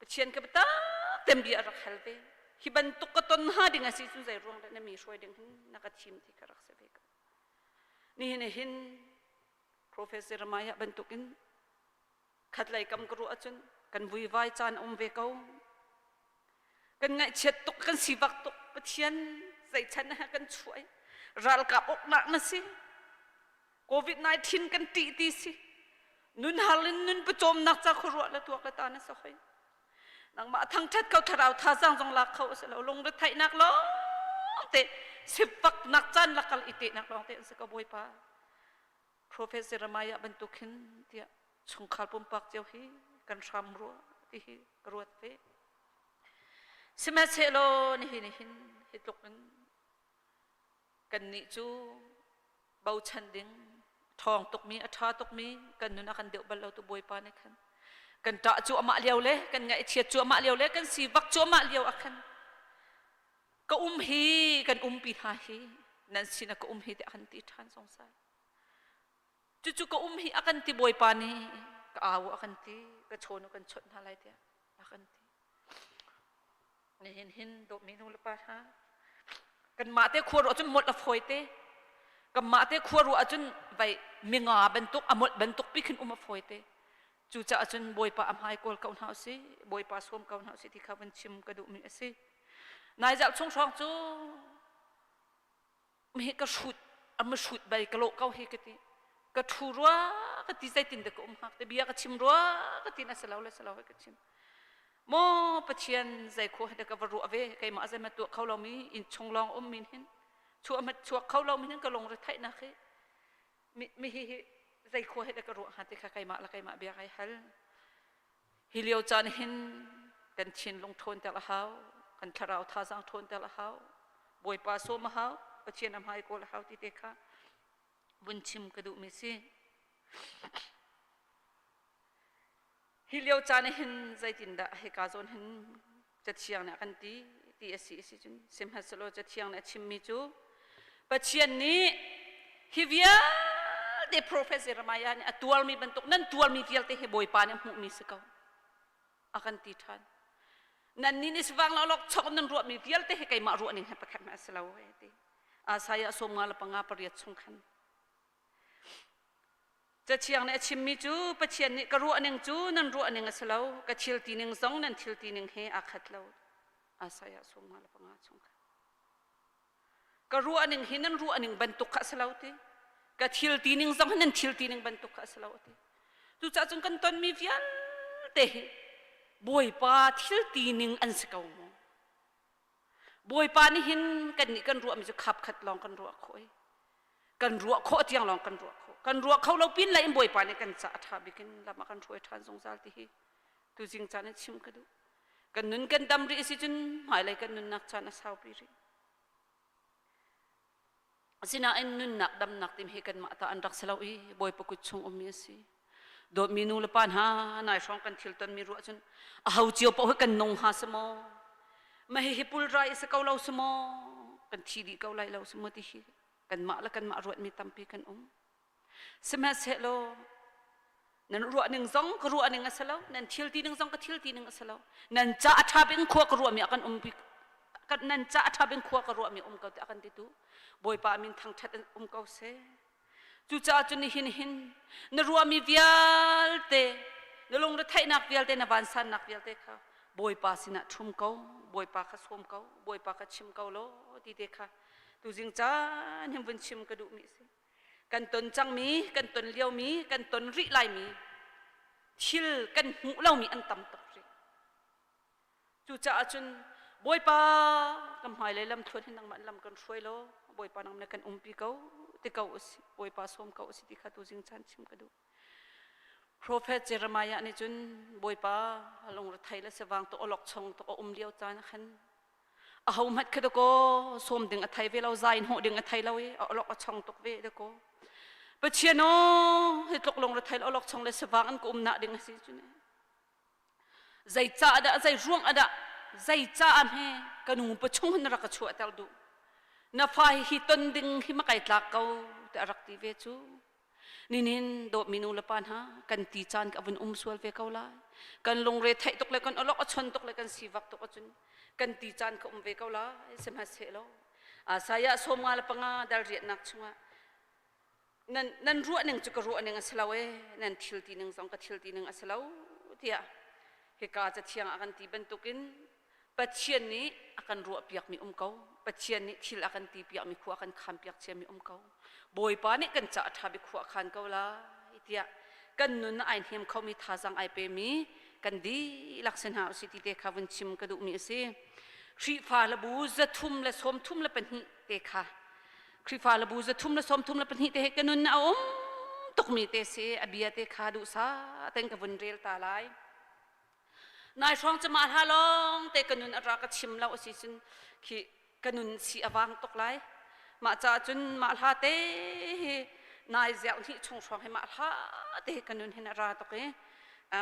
Pathian ka biatak bia a rak hal ve hi bantuk ka ton hnga ding a si cu zei ruang dah na mi hruai ding hin na ka thim ti ka rak si ve ko Nihin hi hin Professor Maya bantuk in khatlei kam ka ruah ahcun kan vuivai caan a um ve ko. Kan ngaihchiat tuk, kan sivak tuk. Pathian zeican ah kan chuai. Ralkap uknak na si. COVID-19 kan ṭih ti si. Nun har in nun pawcawmnak ca khuaruah le tuak le ta na si hoi. nangmah thangṭhat ko thlarau thazaang zong lak kho a si lo lungre theihnak lawng te sippaknak caan lakal i tehnak lawng te an si ko bawipa profet jeremiah bantuk hin tiah chungkhar pumpak cio hi kan hram rua ti hi ka ruat ve sihmanhsehlaw nihin nihin hi tluk in kannih cu bochan ding thawng tukmi a ṭha tukmi kan nun a kan deuh bal lo tu bawipa nih khan kan ṭah cuahmah lio le kan ngaihchiat cuahmah lio le kan sivak cuahmah lio ah khan ka um hi kan umpi hna hi nan sin ka um hi tiah kan ti ṭhan sungsai cucu ka um hi a kan ti bawipa nih ka au a kan ti ka chawn u kan chawnh hna lai tiah a kan ti. Nihin hin dawtmi nu le pa hna, kanmah te khua ruah cun molh a fawi te. Kanmah te khua ruah cun vai minga bantuk, a molh bantuk pi khin um a fawi te. Cucaah cun Bawipa a hmai kawl ko hna usih, Bawipa sawm ko hna usih ti kha vun chim ka duhmi a si. Nai zarh chung hrawng cu hi ka hrut ama hrut bal ka lo kau hi ka ti ka thu rua ka ti zeitin de ka um hak te bia ka chim rua ka ti na selo le selo ka chim mo pathian zai kho de ka varu ave keima azai ma tu kho lo mi in chung long um min hin chu amat chuak kho lo mi hin ka long ri thai na khi mi mi hi hi zai kho he de ka ru ha te kha keima la keima bia kai hal Hi lio caan hin kan thinlung ṭhawnter a hau, kan thlarau thazang ṭhawnter a hau, Bawipa sawm a hau, Pathian a hmai kawl a hau ti te kha vun chim ka duhmi si. Hi lio caan hin zeitindah hika zawn hin cathiang nih a kan ti ti a si si cun sihmanhsehlaw cathiang nih a chimmi cu Pathian nih hi vialte profet Jeremiah nih a tuarmi bantuk nan tuarmi vialte hi Bawipa nih hmuhmi si ko a kan ti ṭhan nannih nih sivang lawlawk chok nan ruahmi vialte hi keimah ruahning he pakhat hmanh a si lo ti Isaiah sawm nga le panga pariat chung khan Cathiang nih a chimmi cu Pathian nih ka ruah ning cu nan ruah ning a si lo ka thil ti ning zong nan thil ti ning he aa khat lo asaya sungma le panga chung kha ka ruah ning hi nan ruah ning bantuk kha a si lo ti ka thil ti ning zong nan thil ti ning bantuk kha a si lo ti cucaah cun kan tonmi vialte hi bawipa thil ti ning an si ko mu Bawipa nih hin kannih kan ruahmi cu khap khat lawng kan ruah khawh i kan ruah khawh tiang lawng kan ruah khawh kan ruah kho lo pin lei in Bawipa nih kan ca a ṭha bik in lam a kan hruai ṭhan zungzal ti hi tuzing caan in chim ka duh kan nun kan dam rih a si cun hmailei kan nunnak caan a saupi rih Asinain nunnak damnak tim hi kanmah ta an rak si lo i Bawipa kut chung ummi a si. Dawtmi nu le pa hna nai hrawng kan thil tonmi ruah cun a ho cio paoh hi kan nung hnga si maw? Ma hihi pulrai a si ko lo si maw? Kan thi dih ko lai lo si maw ti hi kanmah le kanmah ruatmi tampi kan um. Sihmanhsehlaw nan ruah ning zong ka ruah ning a si lo nan thil ti ning zong ka thil ti ning a si lo nan ca a ṭha bing khua ka ruahmi a kan um nan ca a ṭha bing khua ka ruahmi um ko ti a kan ti tu bawipa min thangṭhat um ko se cucaah cu nihin hin na ruahmi vialte na lungretheihnak vialte na vansannak vialte kha bawipa sinah ṭhum ko bawipa kha sawm ko bawipa kha chim ko law ti te kha tuzing caan hin vun chim ka duhmi si kan ton cangmi kan ton liomi kan ton rih laimi thil kan hmuh lomi an tam tuk rih cucaah cun bawipa kan hmailei lam thuan hin nangmah lam kan hruai law bawipa nangmah kan umpi ko ti ko usi bawipa sawm ko usi ti kha tu zing chan chim ka duh Profet Jeremiah nih cun Bawipa a lungrethei le sevang to olok chung to a um lio caan ah khan a ho mat kha dako som ding a thei ve lo zain ho ding a thei lo i a olok a chong tuk ve dako Pathian o hi tluk lungrethei olok chung le sevang an ko um na ding a si cu ne zei ca ada zei ruang ada zei ca me kanu pa chung han rak chu atel du na fa hi ton ding hi makai tlak ko te arak ti ve chu Ninin dawtmi nu le pa hna kan ti caan ka vun um sual ve ko lai. Kan lungre theih tuk le kan olok a chon tuk le kan sivak tuk acun kan ti caan ka um ve ko lai sihmahsehlo. Saya sawmnga le panga dal riatnak chungah nan nan ruah ning cu ka ruah ning a si lo e nan thil ti ning zong ka thil ti ning a si lo tiah hika cathiang ah kan ti bantukin Pathian nih a kan ruahpiakmi um ko. Pathian nih thil a kan tipiakmi khua a kan khampiak ciami um ko. Bawipa nih kan ca a ṭha bik khua a khan ko lai tiah kan nun ah ai hnem khomi thazang ai pemi kan dihlak si hna usih ti te kha vun chim ka duhmi a si. Khrihfa labu zathum le sawmthum le pahnih te kha Khrihfa labu zathum le sawmthum le pahnih te he ka nun a um tukmi te si a bia te kha duhsah ten ka vun rel ta lai. nai hrawng cama hla lawng te ka nun ara ka chim lo asi cun khi ka nun si awang tuk lai mah ca cun mah hla te hi nai ziau ni chung hrawng hi mah hla te ka nun hin ara tuk i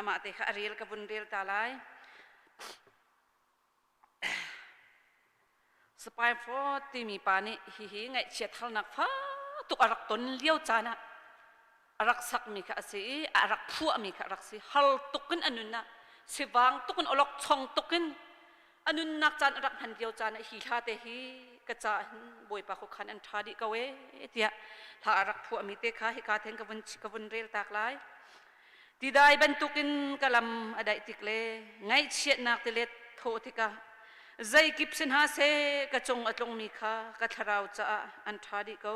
mah te kha a rel ka vun rel ta lai Spaifort timi pa nih hihi ngaihchia thalnak fa tuk a rak ton lio caan ah a rak sakmi kha a si i a rak phuahmi kha a rak si har tuk in a nunnak sivang tuk in olok chong tuk in a nunnak caan a rak hman lio caan ah hi hla te hi ka ca hin bawipa khokhan an ṭha dih ko e tiah hla a rak phuahmi te kha hika then ka vun ka vun rel tak lai Tidai bantukin ka lam a daih tik le ngaihchiatnak tilet thawh tikah zeikip si hna seh ka cung a tlungmi kha ka thlarau caah an ṭha dih ko.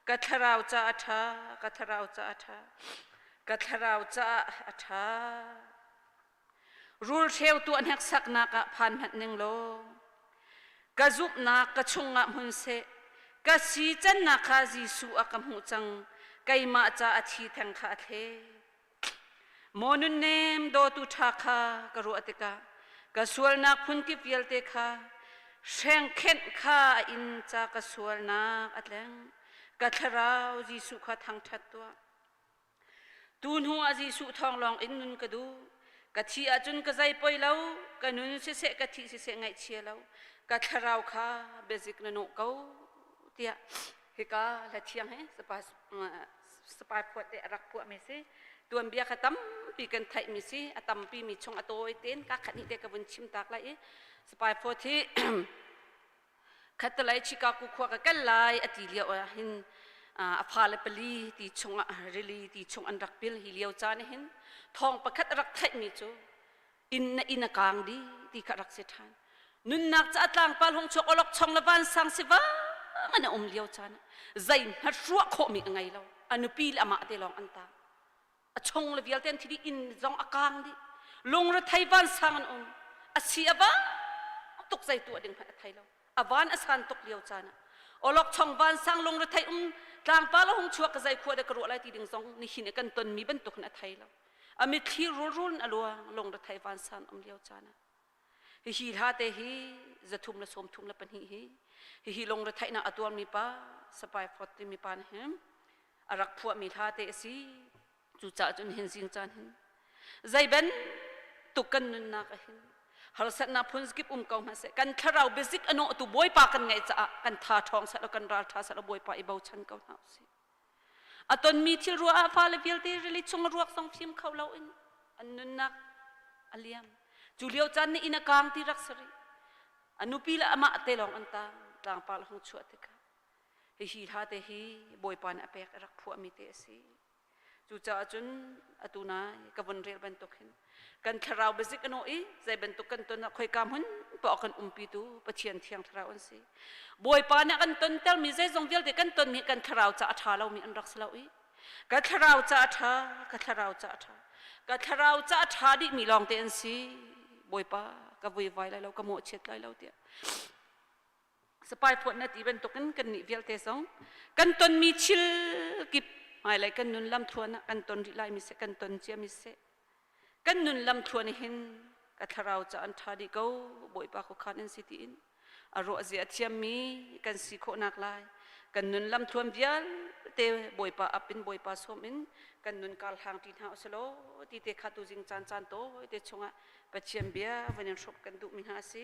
Ka thlarau caah a ṭha, ka thlarau caah a ṭha, ka thlarau caah a ṭha. Rulhreu tuah hneksaknak ah phan hmanh ning law, ka zumhnak ka chungah hmun seh, ka si cannak kha Jesuh a ka hmuh cang, keimah ca a thi theng kha a thle. Maw nunnem dawtu ṭha kha ka ruah tikah, ka sualnak phunkip vialte kha, hrengkhenh kha a in ca ka sualnak a tleng. Ka thlarau Jesuh kha thangṭhat tuah. Tu hnu ah Jesuh thawng lawngin nun ka duh. Ka thih ahcun ka zei poi lo, ka nun siseh ka thih siseh ngaihchia lo, ka thlarau kha biazik na nawh ko tiah hika la thiang he sapa sapa phuat te a rak puahmi si tuanbia kha tampi kan theihmi si a tampi mi chung a tawi ten ka khat nih te ka vun chim tak lai i spai phot hi Khatalai Chicago khua ka kal lai a ti lio ah hin a fale pali ti chung ah rili ti chung an rak pil hi lio caan hin thawng pakhat a rak theihmi cu inn na inn a kaang dih ti kha rak si ṭhan nunnak ca tlangpal hong chuak awlok chong le vansang si vang an a um lio caan ah zei hna hruah khawhmi a ngei lo a nupi le amah te lawng an tang a chung le vialte an thi dih inn zong a kaang dih lungre thei vansang an um a si a va tuk zei tuah ding hmanh a thei lo a van a san tuk lio caan ah olok chong vansang lungre thei um tlangpala hung chuak ka zai khua de ka ruah lai ti ding zong ni hin kan ton mi bantuk hin a thei lo a mitthli rul rul a luang lungre thei vansang um lio caan ah Hihi hlate hi zathum le sawmthum le pahnih hi hihi lungre theihnak a tuarmi pa Sapai Fawt timi pa nih hin a rak phuahmi hlate a si. Cucaah cun hin zing caan hin zeiben tuk kan nunnak a hin harsatnak phun kip um ko hmanh seh kan thlarau biazik a nawhtu bawipa kan ngeih caah kan tha ṭhawng set law kan ral ṭha set law bawipa i bochan ko hna usih A tonmi thil ruah ah fale vialte rili chung a ruak zong fim kho loin an nunnak a liam. Cu lio caan nih inn a kaang ti rak si rih. A nupi le amah te lawng an taang. Tlangpar le hung chuah tikah hihi hla te hi bawipa nih a pek a rak phuahmi te a si. Cucaah cun atu nai ka vun rel bantuk hin kan thlarau bazik an i zei bantuk kan ton ah khoika hmun tuah kan umpi tu pathian thiang thlarau an si bawipa nih kan ton ter mi zeizong vialte kan ton mi kan thlarau ca a tha lo mi an rak si lo i ka thlarau ca a tha ka thlarau ca a tha ka thlarau ca a tha dih mi lawng te an si bawipa ka vui vai lai lo ka mawh chiat lai lo tiah Sapai phuanat i bantukin kannih vialte zong kan tonmi thil kip hmailei kan nun lamthluan ah kan ton rih lai miseh kan ton cia miseh kan nun lamthluan hin ka thlarau ca an ṭha dih ko bawipa khuakhan an si tiin a ruahzia a thiammi kan si khawhnak lai kan nun lamthluan vialte bawipa ap in bawipa sawm in kan nun kar hlang ṭi hna usulaw ti te kha tu zing caan caan tawi te chungah Pathian bia van in hruk kan duhmi hna a si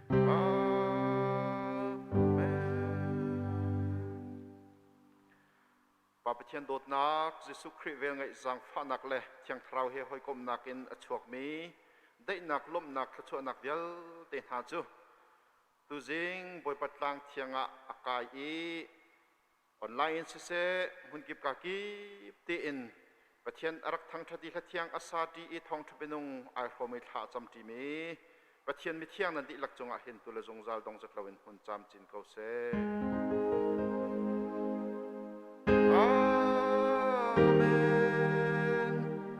Pa Pathian dawtnak, Jesuh Khrih velngeih zangfahnak le Thiang Thlarau he hawikomnak in a chuakmi daihnak, lawmhnak, thluachuahnak vialte hna cu tuzing Bawipa tlang thiang ah a kai i Online in siseh, hmunkip ka kip tein Pathian a rak thangṭhat i hlathiang a sa ṭi i thawngṭha bianung ai hrawmi thla a cam ṭimi Pathian mithiang nan dihlak cungah hin tu le zungzal dongzet loin hmun camcin ko seh.